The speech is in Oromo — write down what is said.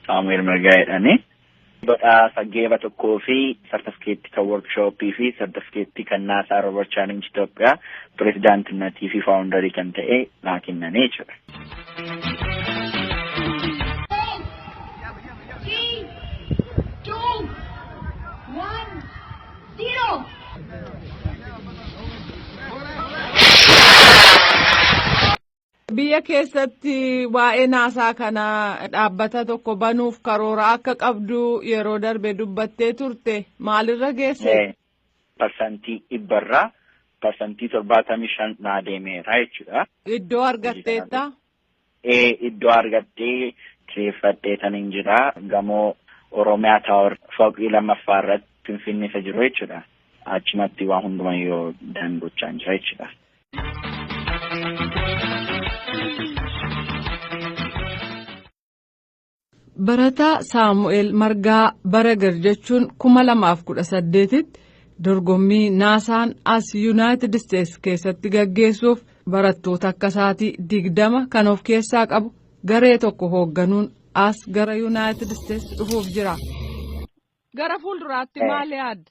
Saamu'eel Mirgaa jedhani. Badhaasa geeba tokkoo fi sartifikeettii kan workshooppii fi sartifikeettii kan naasaa Roobar Chaalingi Itoophiyaa pirezidaantinnatii fi faawundarii kan ta'e naa kennanii jechuudha. Three, two, one. Biyya keessatti waa'ee naasaa kana dhaabbata tokko banuuf karoora akka qabdu yeroo darbe dubbattee turte maalirra geesse? Parsantii dhibbarraa parsantii torbaatamii shan naa deemeera jechuudha. Iddoo argatteetta? baay'ee iddoo argadhee kireeffadhee tan hin jira gamoo Oromiyaa Taawar fooqii lammaffaa irratti Finfinnee isa jiru jechuudha. Achumatti waan hundumaa yoo daangochaan jira jechuudha. Barataa Saamu'eel Margaa Baragar jechuun 2018tti dorgommii naasaan as Yuunaayitid Isteetsi keessatti gaggeessuuf barattoota akka isaatii 20 kan of keessaa qabu garee tokko hoogganuun as gara Yuunaayitid Isteetsi dhufuuf jira. Gara fuulduraatti maal yaadda?